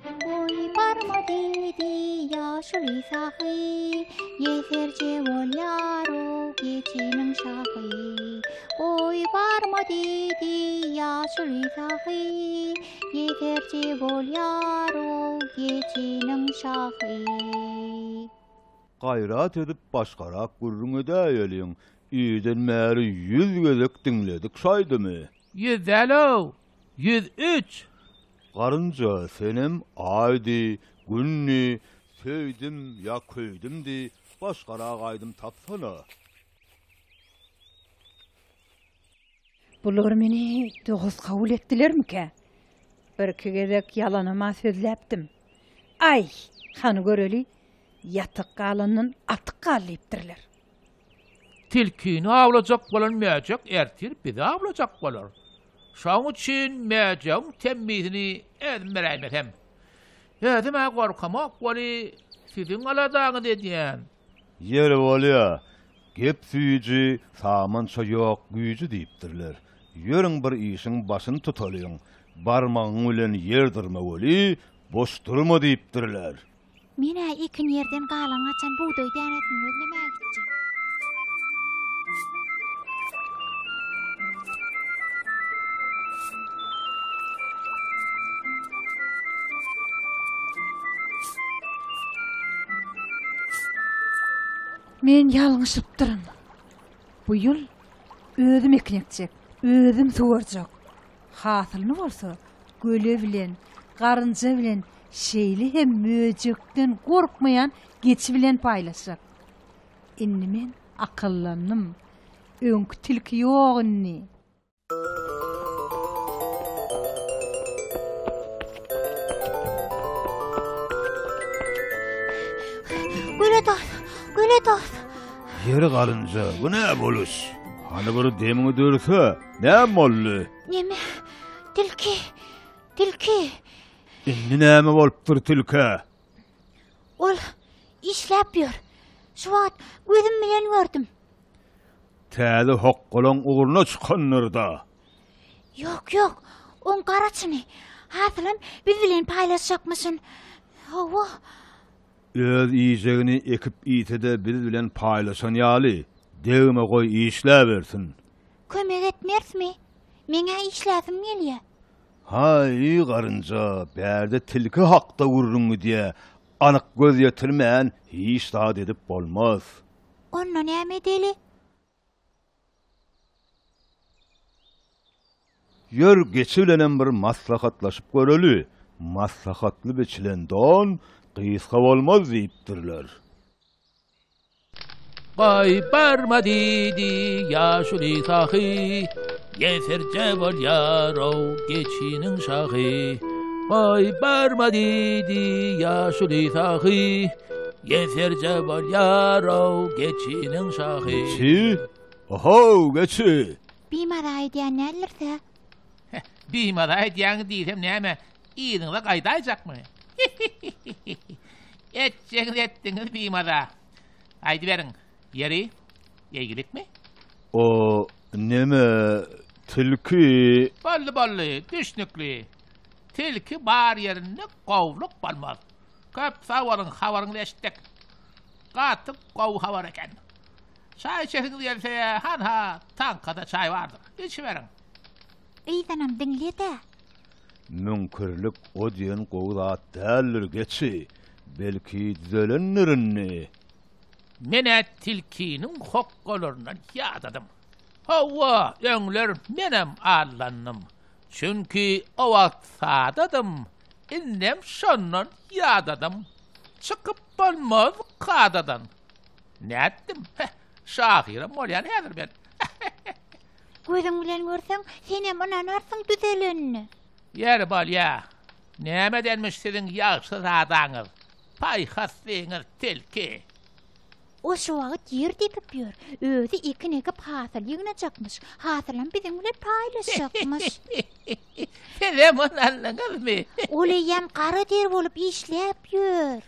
Goý barma diýdi ýaşuly sahy, Ýeserje bolýar-ow geçiniň şahy. Goý barma diýdi ýaşuly sahy, Ýeserje bolýar-ow geçiniň şahy. Gaýrat edip başgarak gürrüň edäýeliň. Irden bäri ýüz gezek diňledik şu aýdymy. Ýüz däl-ow, ýüz üç! Garynja, senem Aýdy, Günni, Söýdüm ýa köýdüm diý, başgarak aýdym tapsana! Bular meni dost kabul etdilermikä? Birki gezek ýalanam-a sözläpdim. Aý, hany göreli, ýatyk galandan atyk gal diýipdirler. Tilkini awlajak bolan mäjek ertir bizi awlajak bolar. Şoň üçin mäjegiň temmisini ezmeräýmesem. Özüm-ä gorkamok weli, siziň aladaňyzy edýän. Ýeri bolýa, gep süýji, samança ýok güýji diýipdirler. Ýörüň bir işiň başyny tutalyň. Barmagyň bilen ýer dyrma weli, boş durma diýipdirler. Men-ä ekin ýerden galan gaçan bugdaý dänesini gözlemäge gitjek. Men ýalňyşypdyryn. Bu ýyl özüm ekin ekjek, özüm suwarjak. Hasylyny bolsa göle bilen, garynja bilen, şeýle hem möjekden gorkmaýan geçi bilen paýlaşjak. Indi men akyllandym. Öňki tilki ýok indi. Göle dos, göle dos. Ýeri garynja, bu ne boluş? Hany bir demiňi dörse, Näme boldy? Neme? Tilki. Tilki. Indi näme bolupdyr tilkä? Ol işläp ýör. Şu wagt gözüm bilen gördüm. Täze hokgalaň ugruna çykandyr-da. Ýok, ýok. Oň garaçyny. Hasylam biz bilen paýlaşjakmyşyn. Hawa. Öz iýjegini ekip iýse-de biz bilen paýlaşan ýaly, degme goý işläbersin. Kömek etmersmi? Meň-ä işläsim gelýä. Haý, garynja, bärde tilki hakda gürrüň gidýä, anyk göz ýetirmän hiç zat edip bolmaz. Onda näme edeli? Ýör, geçi bilenem bir maslahatlaşyp göreli, maslahatly biçilen don gysga bolmaz diýipdirler. Goý, barma, diýdi ýaşuly sahy. Gesertje bolýar-ow geçiniň şahy, Goý, barma diýdi ýaşuly sahy, Gesertje bolýar-ow geçiniň şahy. Geçi? Ohow, geçi! Bimaza edýän däldirse? Heh, bimaza edýäň diýsem näme, yzyňyza gaýdaýjakmy? Hi-hi-hi-hi-hi! Etjegiňizi etdiňiz bimaza. Gaýdyberiň, Ýeri, ýeýgilikmi? O neme, tilki? Boldy, boldy, düşnükli. Tilki bar ýerinde gowluk bolmaz. Köp sag boluň, habaryňyzy eşitdik. Gaty gowy habar eken. Çaý içesiňiz gelse, hanha, taňkada çaý bardyr. Içiberiň. Yzanam diňle-de. Müňkürlik o diýen gowy zat däldir, geçi. Belki düzelendir indi. Men-ä tilkiniň hokgalaryndan ýadadym. Hawa, öňler menem allandym. Çünki o wagt sadadym, indem şondan ýadadym. Çykyp bolmaz kadadan. Nätdim, heh, şahyram bolýan häzir men. Gözüň bilen görseň, senem ynanarsyň düzelenine. Ýeri bolýa. Nämedenmiş siziň ýagşyzadaňyz? Paýhas zeňir telki. O şu wagt ýer depip ýör. Özi ekin ekip hasyl ýygnajakmyş. Hasylam biziň bilen paýlaşjakmyş. Sizem ony aldyňyzmy? Ol eýýäm gara der bolup işläp ýör.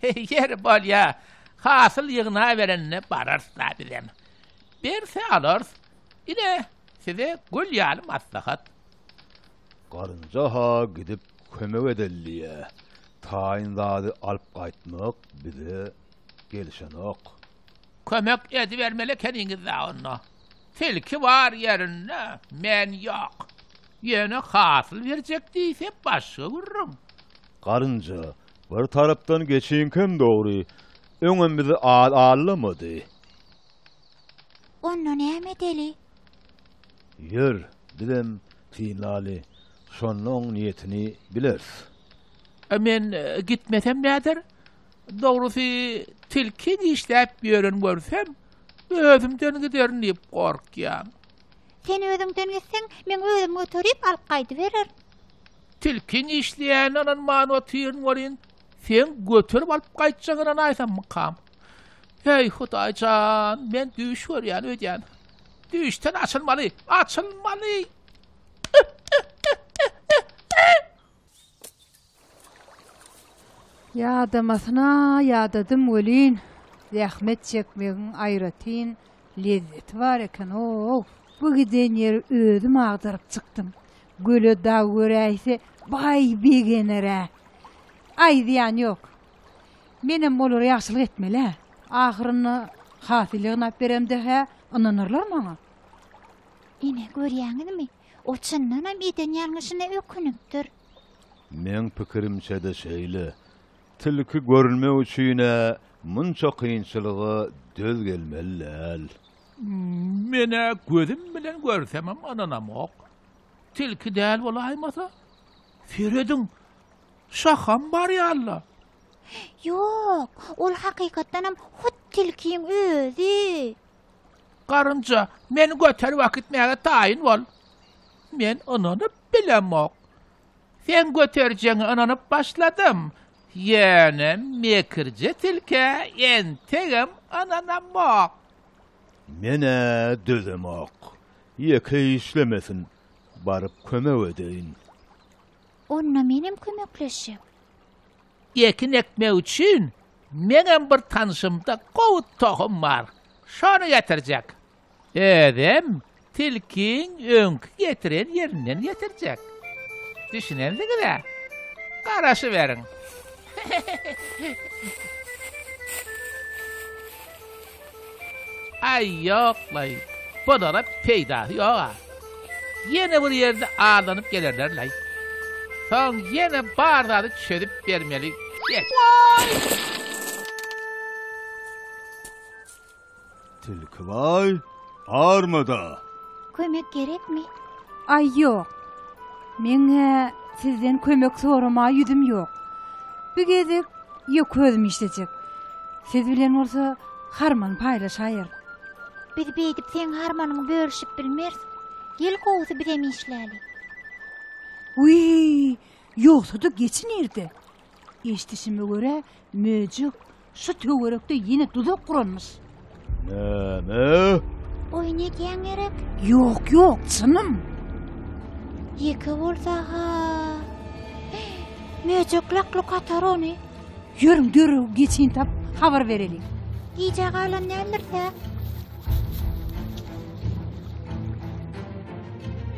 Ýeri bolýa. Hasyl ýygnaberende bararys-la bizem. Berse alarys. Ine, size gül ýaly maslahat. Garynja-ha gidip kömek edeliýä. Taýyn zady alyp gaýtmak bize gelişenok. Kömek edibermeli ekeniňiz-dä onda. Tilki bar ýerinde, men ýok. Ýöne hasyl berjek diýse başga gürrüň. Garynja, bir tarapdan geçiňkem dogry, öňem bizi al-allamady. Onda näme edeli? Ýör, bizem synlaly, şonda oň niýetini bileris. A men gitmesem näder? Dogrusy, tilki dişläp ýören görsem, özümden giderin diýip gorkýan. Sen özüňden gitseň, men özüm göterip alyp gaýdybererin. Tilkiň işleýänine ynanman otyryn welin, seň göterip alyp gaýtjagyňa ynanaýsamykam? Heý, Hudaý jan, men düýş görýän öýdýän. Düýşden açylmaly, açylmaly! Ýadamasyna ýadadym welin, zähmet çekmegiň aýratyn lezzeti bar eken-ow! Bu giden ýeri özüm agdaryp çykdym. Göle dag göräýse, baý begener-ä. Aýdýan ýok. Menem olara ýagşylyk etmeli-ä. Ahyrynda hasyl ýygnap beremde-hä ynanarlar maňa. Ine, görýäňizmi, o çyndanam eden ýalňyşyna ökünipdir. Meň pikirimçe-de şeýle. Tilki görünmek üçin-ä munça kynçylyga döz gelmeli däl. Men-ä gözüm bilen görsemem ynanamok. Tilki däl bolaýmasa, serediň, şaham bar ýaly-la. Ýok, ol hakykatdanam hut tilkiň özi. Garynja, meni göterip akitmäge taýyn bol. Men ynanyp bilemok. Sen göterjeňe ynanyp başladym. Ýöne mekirje tilkä entegem ynanamok. Men-ä dözemok. Ýeke işlemesin, baryp kömek edeýin. Onda menem kömekleşjek. Ekin ekmek üçin meňem bir tanşymda gowy tohum bar. Şony getirjek. Özem tilkiň öňki getiren ýerinden getirjek. Düşünendiňiz-ä? Garaşyberiň. Aý, ýok-laý, bulara peýdasy ýog-a. Ýene bir ýerde aldanyp gelerler-laý. Soň ýene bar zady çözüp bermeli. Geç. Tilki baý, Armada. Kömek gerekmi? Aý ýok. Meň-ä sizden kömek soramaga ýüzüm ýok. Bu gezek ýa közüm işlejek. Siz bilen bolsa harman paýlaşaýar. Biz beýdip seň harmanyňy bölüşip bilmeris. Gel gowusy bizem işläli. Wiý, ýogsa-da geçi nirde? Eşdişime görä, möjek şu töwerekde ýene duzak guranmyş. Näme? Oýun edýäň gerek? Ýok, ýok, çynym. Ýeke bolsa-ha. Möjek lak-luk atar ony. Ýörüň, dörew geçin tap, habar bereliň. Gijä galan däldir-dä?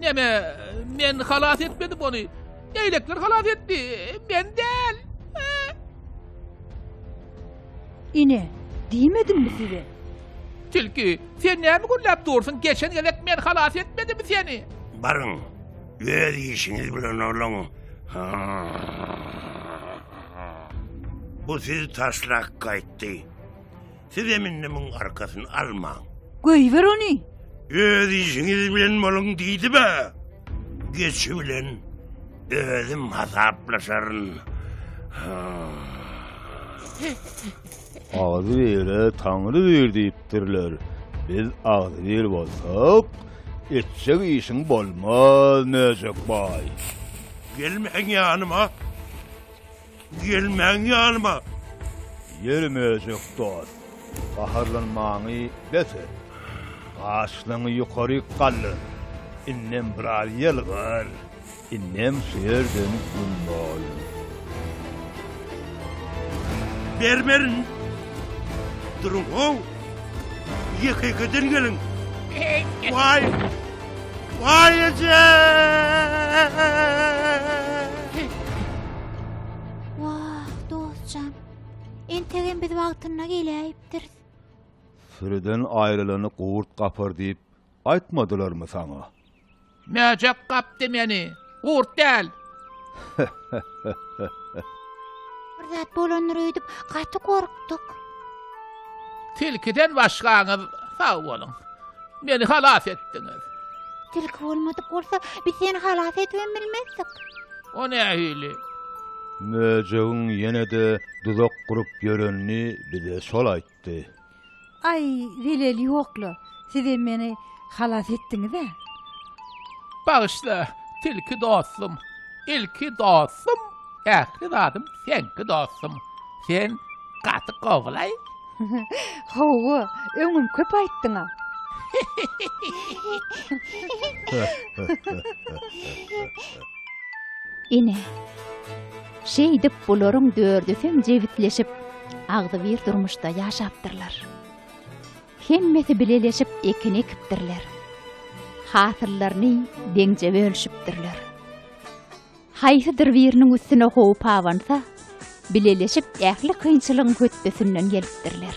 Näme, men halas etmedim ony. Leýlekler halas etdi, men däl. Ine, diýmedimmi size? Tilki, sen näme gürläp dursun? Geçen gezek men halas etmedimmi seni? Baryň, öz işiňiz bilen olaň. Bu siz taşlak gaýtdy. Siz hem indi muň arkasyny almaň. Goýber ony. Öz işiňiz bilen boluň diýdibe. Geçi bilen özüm hasaplaşaryn. Agzy bere taňry ber diýipdirler. Biz agzy ber bolsak, etjek işiň bolmaz, Möjek baý. Gelmäň ýanyma. Gelmäň ýanyma! Ýeri möjek dost, gaharlanmaňy bes et. Gaşlaňy ýokaryk galdyr. Indem biraz ýylgyr. Indem şu ýerden güm bol. Bermerin! Duruň-ow! Ýeke-ýekeden geliň! Waý! Vay ece! Wah, dostjan. Entegem biz wagtynda geläýipdiris. Sürüden aýrylany gurt gapar diýip aýtmadylarmy saňa? Mäjek gapdy meni. Gurt däl. Bir zat bolandyr öýdüp gaty gorkduk. Tilkiden başgaňyz sag boluň. Meni halas etdiňiz. Tilki bolmadyk bolsa, biz seni halas edip hem bilmezdik. O nähili? Möjegiň ýene-de duzak gurup ýörenini bize şol aýt. ýatdy. Aý, zelel ýok-la, sizem meni halas etdiňiz-ä. Bagyşla, tilki dostum, ilki dostum, ähli zadym seňki dostum. Sen gaty gowylaý. Hawa, öňem köp aýtdyň-a. Ine. Şeýdip, bularyň dördüsem jebisleşip, agzybir durmuşda ýaşapdyrlar. Hemmesi bileleşip ekin ekipdirler. Hasyllaryny deňje bölüşipdirler. Haýsydyr biriniň üstüne howp abansa, bileleşip ähli kynçylygyň hötdesinden gelipdirler.